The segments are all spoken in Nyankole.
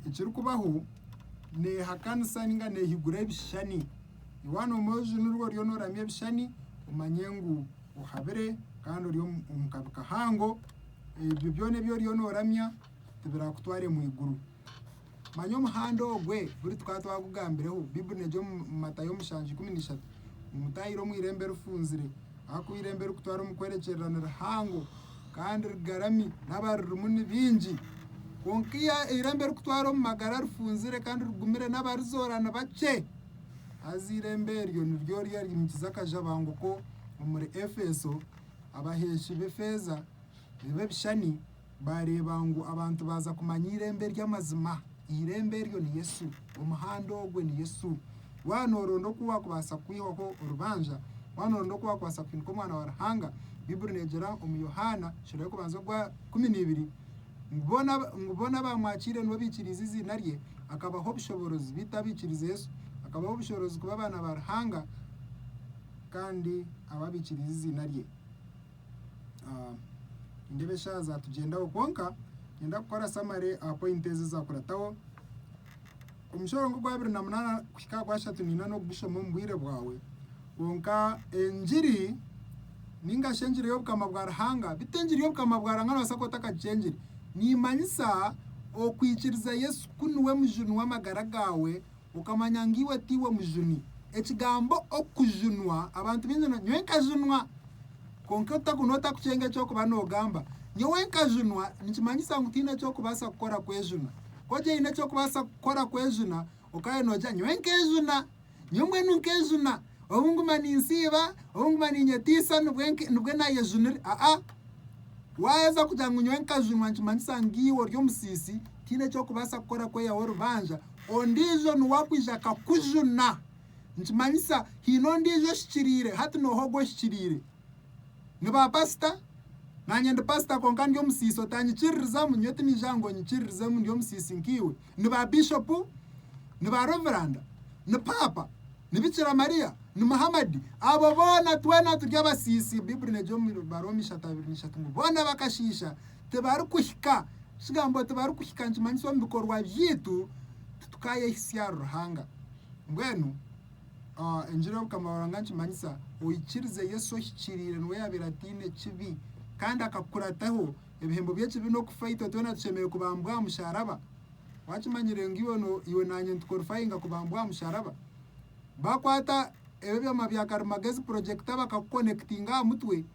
ekirikubaho neehakanisa ninga neehigura ebishushani. Yowaana omwojo nirwo oriyo nooramya ebishushani omanye ngu ohabire kandi ori omu kabi kahango. Ebyo byona ebi oriyo nooramya tibiraakutware mu iguru. Manya omuhanda ogwe buri tukaba twagugambireho. Baiburi neegi omu Matayo mushanju ikumi na ishatu ngu, Mutaahire omu irembo erifunzire, ahakuba irembo erikutwara omu kwerekyerera nirihango, Kandi rigarami, n'abaririmu ni baingi. Kwonka iyo eirembo rikutwara omu magara rifunzire kandi rigumire, n'abarizoora ni bakye. Haza eirembo eryo niryo ryariimikize akajabanguko omuri Efeso, abaheeshi b'efeeza b'ebishushani baareeba ngu abantu baaza kumanya eirembo ery'amazima. Eirembo eryo ni Yesu. Omuhanda ogwe ni Yesu. Waaba nooronda oku waakubaasa kwihaho orubanja, waaba nooronda oku waakubaasa kuhinika Omwana wa Ruhanga, Baiburi neegira omu Yohaana sura y'okubanza ogwa ikumi neibiri ngu boona ngu boona abaamwakyaire nibo baikiriize eiziina rye, akabaha obushoboorozi, beitu abaikiriize Yesu, akabaha obushoorozi kuba abaana ba Ruhanga, kandi abo abaikiriize eiziina rye. Nindeeba eshaaha zatugyendaho kwonka niinyenda kukora samare aha poyinti ezi zaakurataho. Omushoro ng'ogwa abiri na munaana kuhika aha gwashatu niinyenda n'okugushoma omu bwire bwawe. Kwonka engiri nainga shi engiri y'Obukama bwa Ruhanga, bi t'engiri y'Obukama bwa Ruhanga noobaasa kuba otakagikyengire, neemanyisa okwikiriza Yesu ku niwe Mujuni w'amagara gaawe, Okamanya ngu iwe tiiwe mujuni. Ekigambo okujunwa abantu baingi nibagamba ngu nyowe nkajunwa. Kwonka otaku n'otakucenga eky'okuba noogamba nyowe nkajunwa nikimanyisa ngu tihaine eki orikubaasa kukora kwejuna. Ku oine eki orikubaasa kukora kwejuna okaba oine noogira nyowe nkeejuna, nyowe mbwenu nkeejuna, obu nguma ninsiiba, obu nguma niinyetiisa nibwe naayejunire. Aa-a, waaheza kugira ngu nyowe nkajunwa nikimanyisa ngu iwe ori omusiisi tihaine eki orikubaasa kukora kwehaho orubanja. Ondiijo niwe akwija akakujuna. Nikimanyisa haine ondiijo ohikiriire. Hati nooha ogu ohikiriire? Ni baapasita? Naanye ndi pasita kwonka ndi omusiisi. Otanyikiririzamu? Nyowe tiniija aha ngu onyikiririzemu ndi omusiisi nkaiwe. Ni baabishopu? Ni baareveranda? Ni paapa? Ni Bikira Mariya? Ni Muhammadi? Abo boona twena turi abasiisi. Baiburi neegira omu Baroomi ishatu abiri na ishatu ngu boona bakashiisha. Tibarikuhika. Ekigambo tibarikuhika nikimanyisa omu bikorwa byaitu titukaayehitsya aha Ruhanga. Mbwenu Enjiri y'Obukama bwa Ruhanga nikimanyisa oikirize Yesu ohikiriire niwe yaabaire ataine ekibi kandi akakukurataho. Ebihembo by'ekibi n'okufa itwe twena tushemereire kubambwa aha musharaba. Wakimanyire ngu iwe naanye nitukorifayinga kubambwa aha musharaba? Baakwata ebyo byoma bya karimagezi, purojekita, bakakukonekitinga aha mutwe,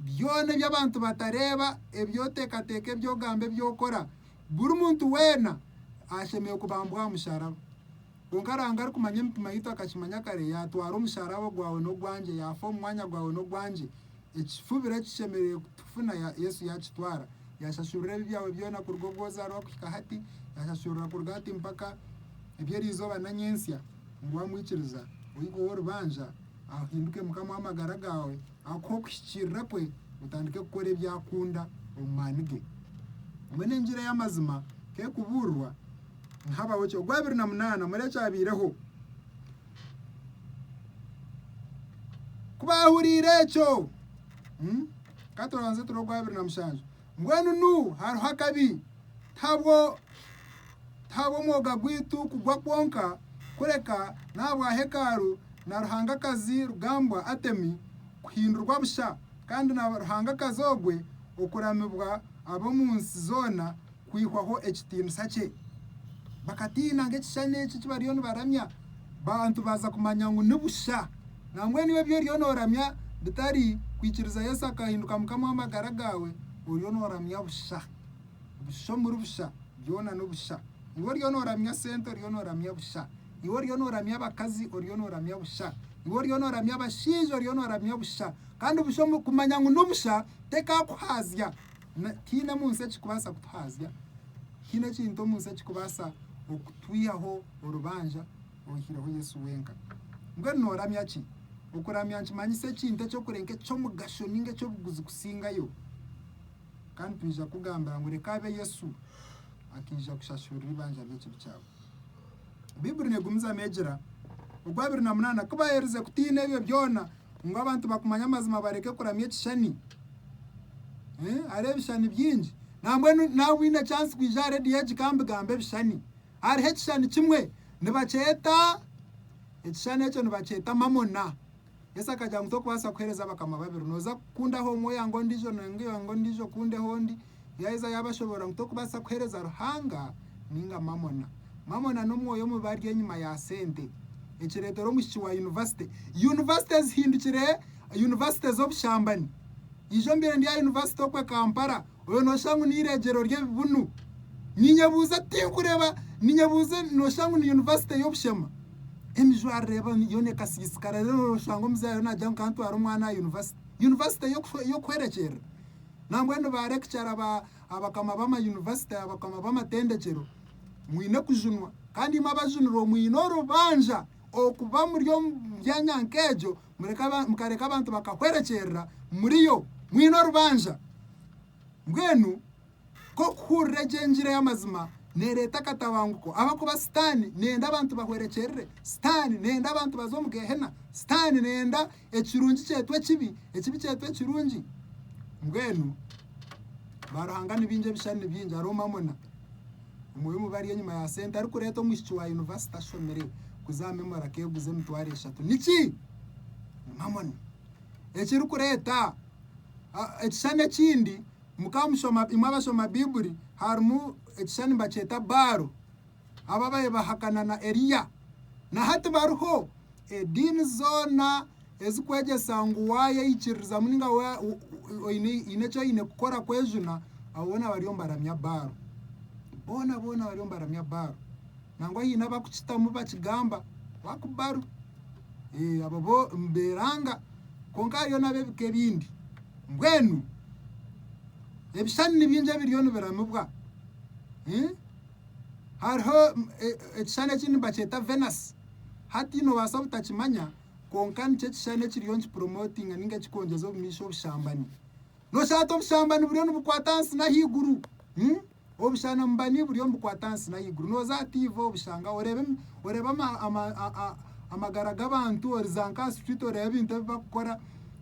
Byona ebi abantu batareeba, ebi oteekateeka, ebi ogamba, ebi okora, buri muntu weena ashemereire kubambwa aha musharaba. Kwonka Ruhanga arikumanya emitima yaitu akakimanya kare, yaatwara omusharaba ogwawe n'ogwangye, yaafa omu mwanya gwawe n'ogwangye. Ekifubiro eki kishemereire kutufuna, Yesu yaakitwara. Yaashashurira ebibi byawe byona kuruga obu ozaarwa kuhika hati, yaashashurira kuruga hati mpaka eby'erizooba na nyentsya. Ngu waamwikiriza, oiheho orubanja, ahinduke Mukama w'amagara gaawe. Akuhe okuhikiirira kwe otandike kukora ebi akunda omu maani ge. Mbwenu engira ey'amazima ku erikubuurirwa ni Habahoki ogwa abiri na munaana. Murebe ekyabaireho. Ku baahuriire ekyo, ka tubanze turebe ogwa abiri na mushanju. Mbwenu nu hariho akabi? Tihabwo, tihabwo mwoga gwaitu kugwa kwonka, kureka n'ahabwa hekalu na ruhangakazi rugambwa Atemi kuhindurwa busha, kandi na ruhangakazi ogwe okuramibwa ab'omu nsi zoona kwihwaho ekitiinisa kye. Bakatiina nk'ekishushani eki eki bariyo nibaramya. Bantu baza kumanya ngu ni busha. Nambwenu iwe ebi oriyo noramya bitari kwikiriza Yesu akahinduka Mukama w'amagara gawe, oriyo noramya busha. Busha omuri busha, byona nobusha. Iwe oriyo noramya sente oriyo noramya busha. Iwe oriyo noramya abakazi oriyo noramya busha. Iwe oriyo noramya abashaija oriyo noramya busha. Kandi busha kumanya ngu ni busha tekakuhazya. Na, tihaine omu nsi ekirikubaasa kutuhaazya, tihaine ekintu omu nsi ekirikubaasa okutwihaho orubanja oihireho Yesu wenka. Mbwenu nooramya ki? Okuramya nikimanyisa ekintu eky'okure nk'eky'omugasho nainga eky'obuguzi kusingayo. Kandi twija kukugambira ngu reka abe Yesu, akaija kushashurira eibanja ry'ekibi kyaawe. Baibuli neegumiza neegira, ogwa abiri na munaana, ku baayerize kutiina ebyo byona, ngu abantu bakumanye amazima bareke kuramya ekishushani. Hariho ebishushani bingi. Nambwenu naaba oine chance kwija aha reediyo egi ka mbigambe ebishushani. Hariho ekishushani kimwe nibakyeta, ekishushani ekyo nibakyeta mamona. Yesu akagira ngu tokubaasa kuheereza abakama babiri. Nooza kukundaho omwe oyange ondiijo, nari oyange ondiijo okundeho ondi. Yaaheza yaabashoboorora ngu tokubaasa kuheereza Ruhanga nainga Mamona. Mamona n'omwoyo omubi ari enyima ya sente. Ekireetera omwishiki wa yunivasite. Yunivasite zihindukire yunivasite z'obushambani. Ijo mbaire ndi aha yunivasite okwe Kampala. Oyo noshusha ngu neireegyero ry'ebibunu. Ninyebuuza tinkureeba ninyebuuza noshusha ngu ni yunivasite y'obushema. Emijwarire yoona ekasiisikara reero noshusha ngu omuzaire naagira ngu kantware omwana aha yunivasite. Yunivasite y'okuhwerekyerera? Nambwenu ba rekicara abakama b'amayunivasite abakama b'amatendekyero mwine kujunwa kandi imwe abajunirwe mwine orubanja okuba muri omu byanya nk'egyo mukareka abantu bakahwerekyerera muriyo mwine orubanja. Mbwenu ku orikuhurira egi engira ey'amazima neereeta akatabanguko ahabw'okuba Sitaane neeyenda abantu bahwerekyerere. Sitaane neeyenda abantu baze omu Geehena. Sitaane neeyenda ekirungi kyeetwe ekibi, ekibi kyeetwe ekirungi. Mbwenu baaruhanga ni baingi, ebishushani ni bingi, hariho mamona. Omwe omu bari enyima ya sente arikureeta omwishiki wa yunivasite ashomire kuza aha Memory akeeguza emitwaro eshatu. Niki? Ni Mammon. Ekirikureeta ekishushani ekindi, mukaba mushoma, imwe abashoma Baibuli, harimu ekishushani nibakyeta Baaro, abo ababaire bahakana na Eliya. Na hati bariho. Ediini zoona. Ezikwegyesa ngu waayeyikiririzamu ninga waaba oine eki oine kukora kwejuna abo boona bariyo nibaramya Baaro. Boona boona bariyo nibaramya Baaro. Nangwa haine abakukitamu bakigamba waaku Baaro. Ee, abo bo nibeeranga. Kwonka hariyo n'ab'ebika ebindi. Mbwenu ebishushani ni bingi ebiriyo nibiramibwa. Hariho ekishushani ekindi nibakyeta Venasi. Hati noobaasa obutakimanya Kwonka nikyo kishushani ekiriyo nikipromotinga ninga kikongyeza obumiisho obushambani. Noshusha oti obushambani buriyo nibukwata ahansi n'ahaiguru? Obushanambani buriyo nibukwata ahansi n'ahaiguru. Noza aha tiivi obushangaho, oreeba oreeba amagara g'abantu, oriza nk'aha street oreeba ebintu ebi bakukora.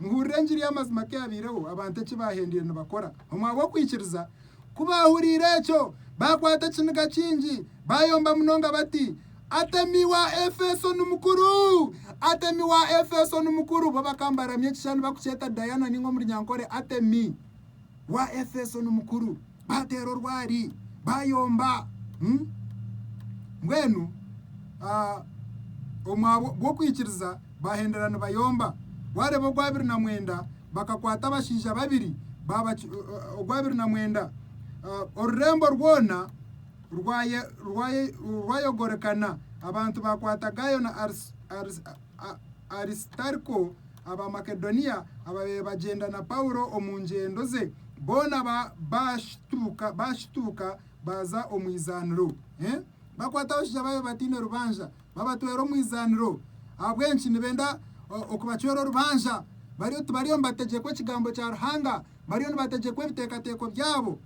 Muhurire engiri y'amazima ku eyabaireho, abantu eki baahendeire nibakora omu ahabw'okwikiriza. Ku baahuriire ekyo, baakwata ekiniga kingi, baayomba munonga bati, Atemi wa Efeso ni mukuru! Atemi wa Efeso ni mukuru! Bo bakambaramya ekishushani bakukyeta Diana nainga omu Runyankore Atemi. wa Efeso ni mukuru, baateera orwari, baayomba. Mbwenu omwabwo gw'okwikiriza baahendera nibayomba. Waareeba ogw'abiri na mwenda, bakakwata abashaija babiri, ogw'abiri na mwenda, orurembo rwona rwayogorekana, abantu baakwata Gaayo na Arisitaako. Arisitariko, Abamakedoniya abaabaire bagyenda na Paulo omu ngyendo ze, boona baashituuka baaza omu izaaniro. Bakwata abashaija abaabaire bataine rubanja, babatwera omu izaaniro. Ahabw'enki? Nibenda okubacwera orubanja. Bariyo tibariyo nibategyekwa Ekigambo kya Ruhanga, bariyo nibategyekwa ebiteekateeko byabo.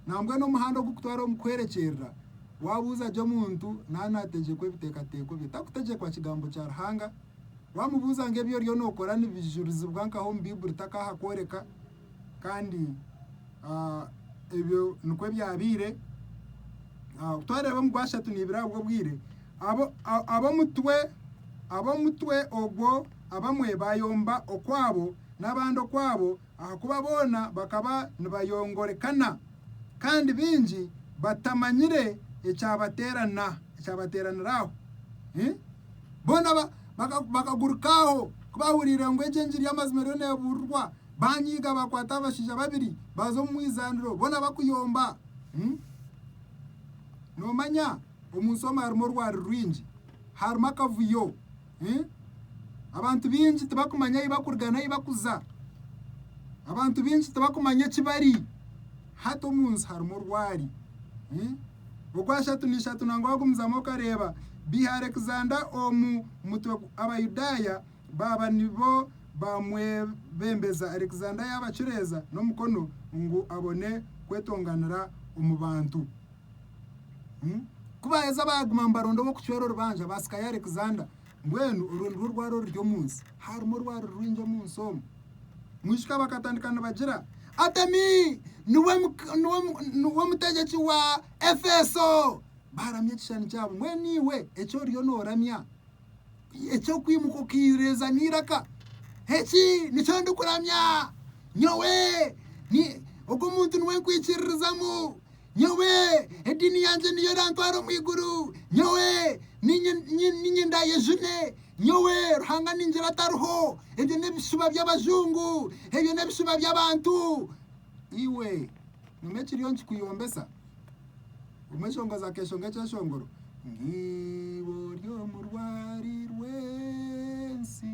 Nambwenu omuhanda ogurikutwara omu kwerekyerera Waabuuza gye omuntu naaba naategyekwa ebiteekateeko bye, takutegyekwa Kigambo kya Ruhanga. Waamubuuza ngu ebi oriyo nookora nibijurizibwa nkaha omu Baibuli, takaaha kworeka. Kandi ebyo nikwo ebyabaire. Ku twareeba omu gwashatu niibire ahabw'obwire, ab'omutwe ab'omutwe ogwo abamwe baayomba okwabo n'abandi okwabo Ahakuba boona bakaba nibayongorekana, kandi baingi batamanyire ekyabateeranira aho. Boona bakaguruka aho ku baahuriire ngu egyo engiri y'amazima eriyo neebuurirwa. Baanyiiga, baakwata abashaija babiri, baaza omu izaaniro, boona bakuyomba. Noomanya, omu nsi omu harimu orwari rwingi, harimu akavuyo. Abantu baingi tibakumanya ahu bakuruga n'ahu bakuza. Abantu baingi tibakumanya eki bari. Hati omu nsi harimu orwari. Ogwashatu n'ishatu nangwa wagumizamu okareeba biha Alexander omu mutwe Abayudaaya baaba nibo baamwebembeza. Alexander yaabacureeza n'omukono ngu abone kwetonganira omu bantu. Ku baaheza baaguma ngu baronde ow'okucwera orubanja, baasikayo Alexander. Mbwenu orwo nirwo rwaro oruri omu nsi. Harimu orwaro rwingi omu nsi omu. Mwijuka bakatandika nibagira, Atemi niwe mutegyeki wa Efeso! Baaramya ekishushani kyabo. Mbwenu iwe eki oriyo nooramya, eky'okwimuka okaireeza n'eiraka, eki nikyo ndikuramya. Nyowe, ogwo muntu niwe nkwikiririzamu. Nyowe ediini yangye niyo erantwara omu iguru, nyowe niinye ndaayejune, nyowe Ruhanga ningira atariho, ebyo n'ebishuba by'abajungu, ebyo n'ebishuba by'abantu. Iwe nyuma ekiriyo nikikuyombesa obumwe eshongozi akeeshonga ekyeshongoro ng'eibo ry'omu rwari rw'ensi.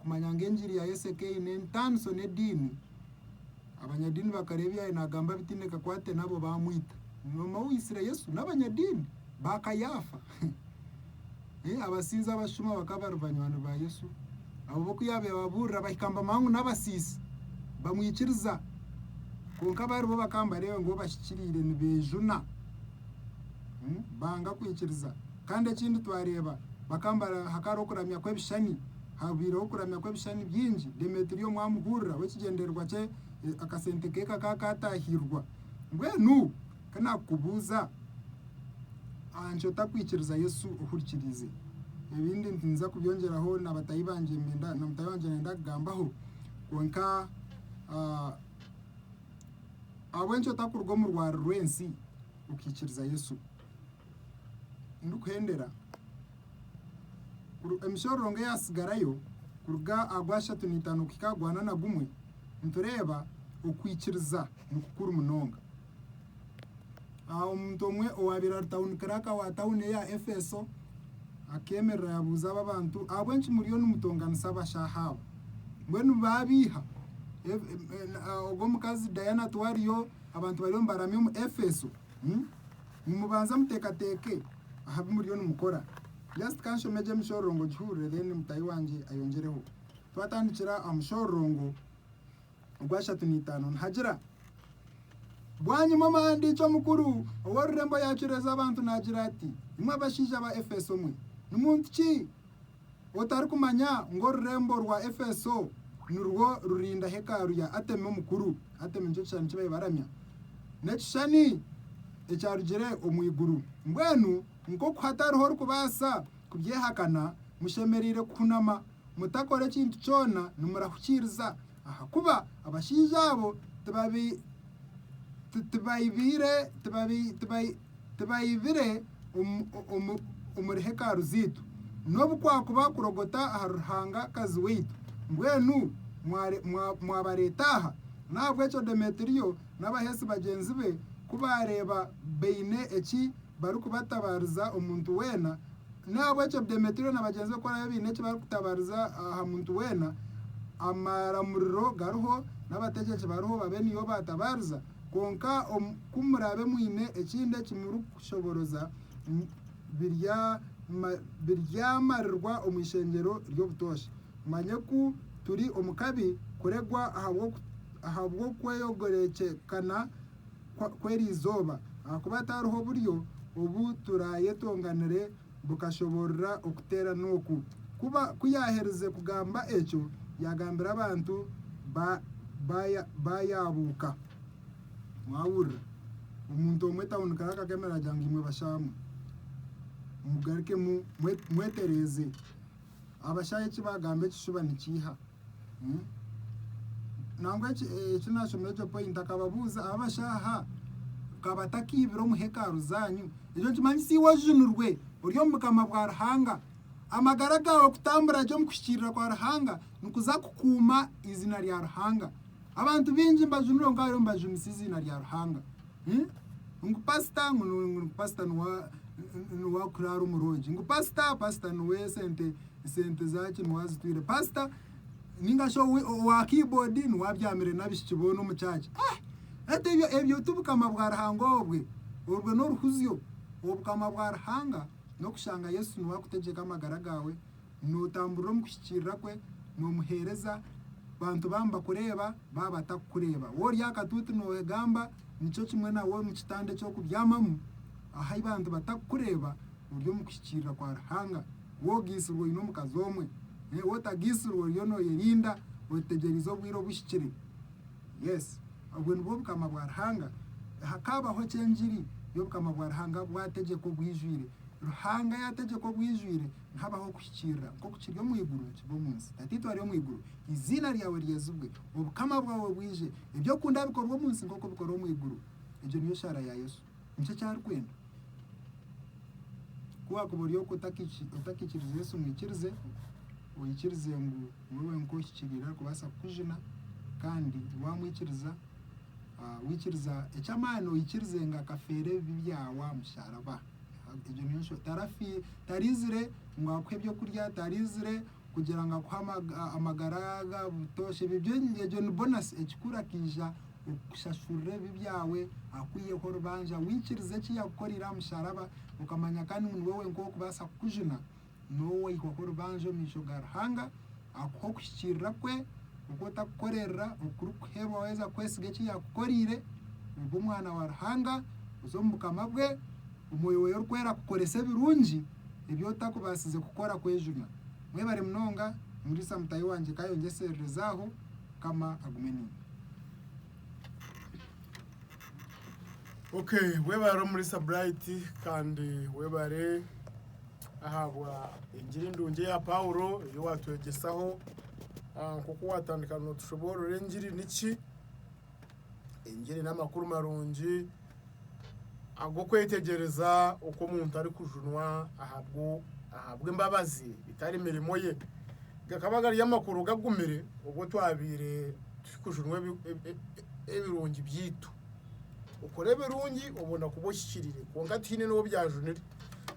kumanya ngu engiri ya Yesu ekeine entaniso n'ediini, abanyadiini bakareeba ebi yaabaire naagamba bitaine kakwate nabo baamwita. Noomanya ou yaitsire Yesu? N'abanyadiini ba Kayaafa. Abasinza abashuma bakaba bari banywani ba Yesu. Abo bo ku yaabaire ababuurira bahika nibamanya ngu n'abasiisi, bamwikiriza. Kwonka bari bo bakaba nibareeba ngu bo bashikiriire, nibeejuna, banga kwikiriza. Kandi ekindi twareeba bakambara hakaaro okuramya kw'ebishushani. Haabaireho kuramya kw'ebishushani bingi. Demetiriyo omwami hurira w'ekigyendererwa kye akasente ke kakaba kaataahiirwa. Mbwenu ka naakukubuuza, aha nki otakwikiriza Yesu ohurikiriize? Ebindi ninyija kubyongyeraho na bataahi bangye na mutaahi wangye ndenda kugambaho. Kwonka ahabw'enki otakuruga omu rwari rw'ensi okaikiriza Yesu? ndikuhendera kuru emishororongo eyatsigarayo kuruga aha gw'ashatu n'itaano kuhika aha gwa na na gumwe, nitureeba okwikiriza nikukuru munonga. Aha omuntu omwe owaabaire ari tawuni kiraaka wa tawuni eya Efeso akeemerera yabuuza aba bantu, Ahabw'enki muriyo nimutonganisa abashaaha abo? Mbwenu baabeiha ebi- em- em- ah, ogwo omukazi Diana tiwariyo, abantu bariyo nibaramya omu Efeso. Nimubanza muteekateeke aha bi muriyo nimukora. Just ka nshome gye emishororongo ngihurire then mutaahi wangye ayongyereho. Twatandikira aha mushororongo ogw'ashatu n'eitaano nihagira, Bwanyima omuhandiiki omukuru ow'orurembo yaacuriza abantu naagira ati, Imwe abashaija ba Efeso mwe, ni muntu ki Otarikumanya ngu orurembo rwa Efeso nirwo ruriinda hekalu ya Atemi omukuru? Atemi nikyo kishushani eki baibaramya. N'ekishushani ekyarugire omu iguru. Mbwenu nk'oku hatariho orikubaasa kubyehakana, mushemereire kuhunama, mutakora ekintu kyona, nimurahukiiriza, ahakuba abashaija abo tibaibire omuri hekalu zaitu, n'obu kwakuba kurogota ahari ruhangakazi waitu, mbwenu mwabareeta aha? N'ahabw'ekyo Demetiriyo n'abaheesi bagyenzi be ku baareeba baine eki barikubatabaariza omuntu weena, N'ahabw'ekyo Demetiriyo na bagyenzi be ku baraabe baine eki barikutabariza aha muntu weena, amaramuriro gariho n'abategyeki bariho babe nibo baatabaariza. Kwonka ku muraabe mwine ekindi eki murikushobooroza, biryamarirwa omu Ishengyero ry'Obutoosha. Mumanye ku turi omu kabi kuregwa ahabw'okweyogorekyekana. kw'eri izooba, ahakuba hataariho buryo obu turaayetonganire bukashoboorora okuteerana oku. Kuba ku yaaherize kugamba ekyo, yaagambira abantu ba yaabuuka. Mwahurira omuntu omwe etawunikire akakemerera agira ngu, Imwe bashaamwe, mugarukemu mwetereeze. Abashaija eki baagamba ekishuba nikiiha. Nangwa eki naashomera egyo poyinti, akababuuza, Abo abashaija ka batakaibire omu hekalu zaanyu? Ekyo nikimanyisa iwe ojunirwe ori omu Bukama bwa Ruhanga. Amagara gaawe kutambura gye omu kuhikiirira kwa Ruhanga nikuza kukuuma eiziina rya Ruhanga. Abantu baingi nibajunirwa, kwonka bariyo nibajunisa eiziina rya Ruhanga. Eeh ngu pastor ngu ngu pastor nuwe nuwe akuraara omurungi ngu pastor pastor nuwe esente esente zaki nuwe azitwire pastor ninga shi owi owa keyboard nuwe abyamire n'abishiki boona omu church eeh hati ebyo ebyo tibukama bwa Ruhanga obwe orwe n'oruhuzyo obukama bwa Ruhanga n'okushanga Yesu nuwe akutegyeka amagara gaawe. nootamburira omu kuhikiirira kwe, noomuheereza, bantu baamu bakureeba, baaba batakukureeba, waaba ori aha katuuti noogamba, nikyo kimwe nawe omu kitanda eky'okubyamamu, ahu bantu batakukureeba, ori omu kuhikiirira kwa Ruhanga, waaba ogaitsirwe oine omukazi omwe, waaba otagaitsirwe oriyo nooyerinda, otegyereize obwire obu buhikire. Yes, obwo nibwo Bukama bwa Ruhanga. Hakaabaho ki engiri y'Obukama bwa Ruhanga bwategyeka obwijwire? Ruhanga yaategyeka obwijwire nihabaho okuhikiirira, nk'oku kiri omu iguru nikiba omu nsi. Tataitwe ari omu iguru, eiziina ryawe ryezibwe. Obukama bwawe bwije. Ebi okunda bikorwe omu nsi nk'oku bikorwa omu iguru. Egyo niyo shaara ya Yesu. Nikyo eki arikwenda. Ku waakuba ori okwo otakikiriza Yesu ngu ikirize, oikirize ngu niwe wenka ohikiriire arikubaasa kukujuna, kandi waamwikiriza, Waikiriza eky'amaani oikirize ngu akafeera ebibi byawe aha musharaba. Egyo niyo nsho tarafi taraizire ngu akuhe eby'okurya, taraizire kugira ngu akuhe amagara ga butoosha. Ebyo byo egyo ni bonasi ekikuru akaija okukushashurira ebibi byawe akwiheho orubanja. Waikiriza eki yakukoreire aha musharaba okamanya kandi ngu niwe wenka ow'okubaasa kukujuna. Nooba oikwa nk'orubanja omu maisho ga Ruhanga, akuha okuhikiirira kwe kwonka otakukoreerera okurikuheebwa waaheza kwesiga eki yaakukoreire, obe omwana wa Ruhanga, oze omu Bukama bwe, omwoyo weye orikwera akukorese ebirungi ebi otakubaasize kukora kwejuna. Mwebare munonga, nimuriisa mutahi wangye ka ayongyeserereze aho. Mukama agume niiwe. Okay, webare omuriisa Bright kandi webare Ahabwa Engiri Ndungi eya Paulo ei waatwegyesaho, nk'oku waatandika nootushoboorora engiri niki. Engiri n'amakuru marungi ag'okwetegyereza oku omuntu arikujunwa ahabw'embabazi bitari mirimo ye. Gakaba gari amakuru gagumire obu twabaire turikujunwa ebirungi byaitu. Okore ebirungi obone kuba ohikiriire kwonka tihaine n'ou byajunire.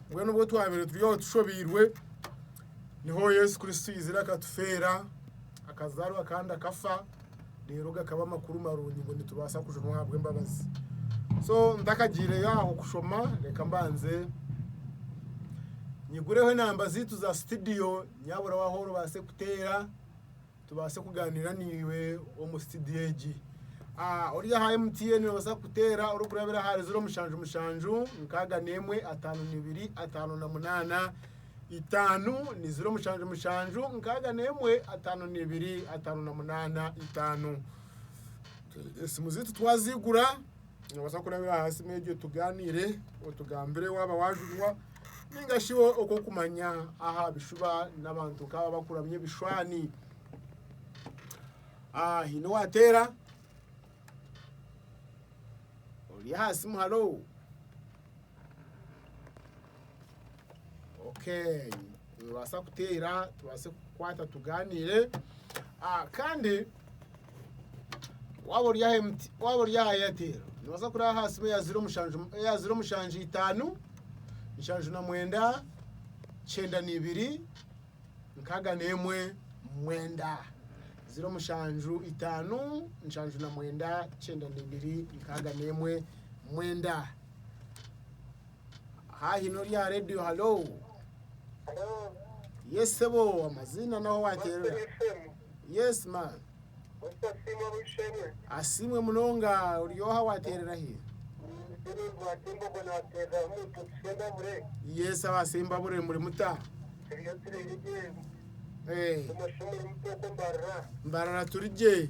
Mbwenu obwo twabaire turi oho tushobeirwe, niho Yesu Kristo aizire akatufeera, akazaarwa kandi akafa, reero gakaba amakuru marungi ngu nitubaasa kujunwa ahabw'embabazi. So ntakagyireyo aho kushoma, reka mbanze nyigureho enamba zaitu za sitidiyo, nyaburaho ahu orabaase kuteera Tubaase kugaaniira naiwe omu situdiyo egi. Ori aha MTN noobaasa kuteera orikurabira ahari ziro mushanju mushanju nkaaga n'emwe ataano na ibiri ataano na munaana itaano ni ziro mushanju mushanju nkaaga n'emwe ataano na ibiri ataano na munaana itaano. Esimu zaitu twaziigura noobaasa kurabira aha simu egyo tugaaniire otugambire waaba waajurwa. ninga shi okw'okumanya aha bishuba n'abantu nk'aba bakuramya ebishushani. Ah, haine owateera? Ori aha simu, halo? Okay. Nibaasa kuteera tubaase kukwata tugaaniire ah, kandi waaba ori aha MT waaba ori aha Airtel nibaasa kuraba aha simu eya ziro mushanju eya ziro mushanju itaanu nshanju na mwenda kyenda na ibiri nkaaga n'emwe mwenda ziro mushanju itaanu nshanju na mwenda kyenda na ibiri nkaaga n'emwe mwenda Haahi n'ori aha reediyo halo. Yes sebo amaziina n'ahu waateerera. Yes man. Asiimwe munonga ori oha waateerera hi? Yes aba Sembabure muri muta? Eh, Mbarara turi gye.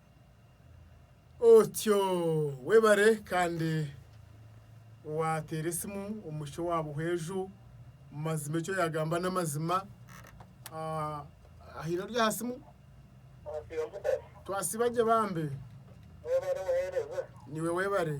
Otyo webare kandi wateera esimu omwishiki owa Buhweju mazima eki oyagamba n'amazima. Haine ori aha simu? Twasiiba gye bambi. Niiwe webare.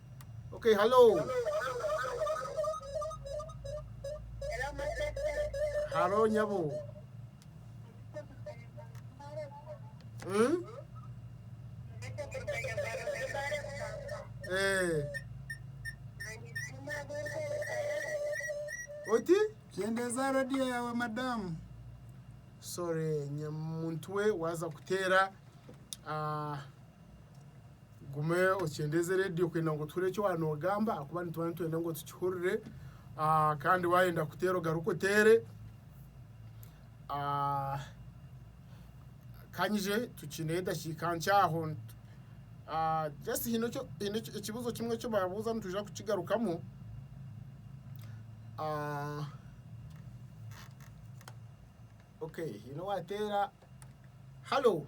Okay, hello. Hello, nyabo. Hmm? Eh. Oti? Kyendeza radio yawe madamu. Sorry, nyamuntu we waza kutera ah Gume okyendeeze reediyo kwenda ngu tuhure eki waaba noogamba ahakuba nituba nitwenda ngu tukihurire kandi waayenda kuteera ogaruke oteere. Ka ngye tukiineyo edakiika nkye aho. Just haine ekibuuzo kimwe eki baabuuza nitwija kukigarukamu. Okay haine owaateera, halo!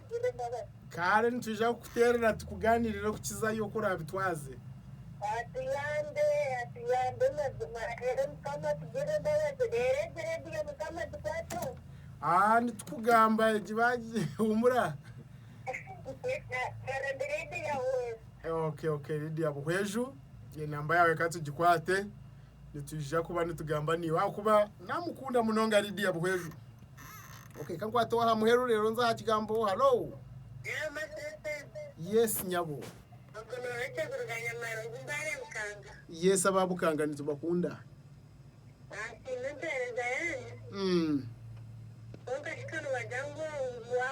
Kare nitwija kukuteerera tukugaaniirire kukizayo oku oraabitwaze. Atuyambe, atuyambe mazima. Reero Mukama tugirire embabazi. Reero egi rediyo Mukama gikwatseho. Aa, nitukugamba egi baagi humura. Kare ndi rediyo ya West. Eh, Okay, okay, Lydia Buhweju, enamba yaawe ka tugikwate. Nitwija kuba nitugamba naiwe ahakuba naamukunda munonga Lydia Buhweju. Okay, ka nkwateho aha muheru reero nze aha kigambo. Hallo! Yaama Sisiri. Yes, nyabo. Obwo nooha Kyeguru Banyamara ogu mbaare Bukanga? Yes, aba Bukanga nitubakunda. Naasiima empeereza yaanyu. Mm. Kwonka shi ka noobagira ngu wa,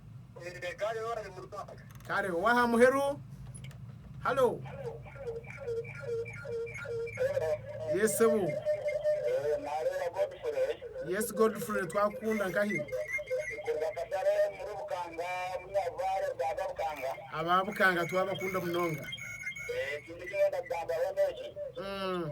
Kare ow'aha muheru. Halo. Yes sebo. Yes Godfrey twakukunda nkahi. Aba Bukanga twabakunda munonga. Mm.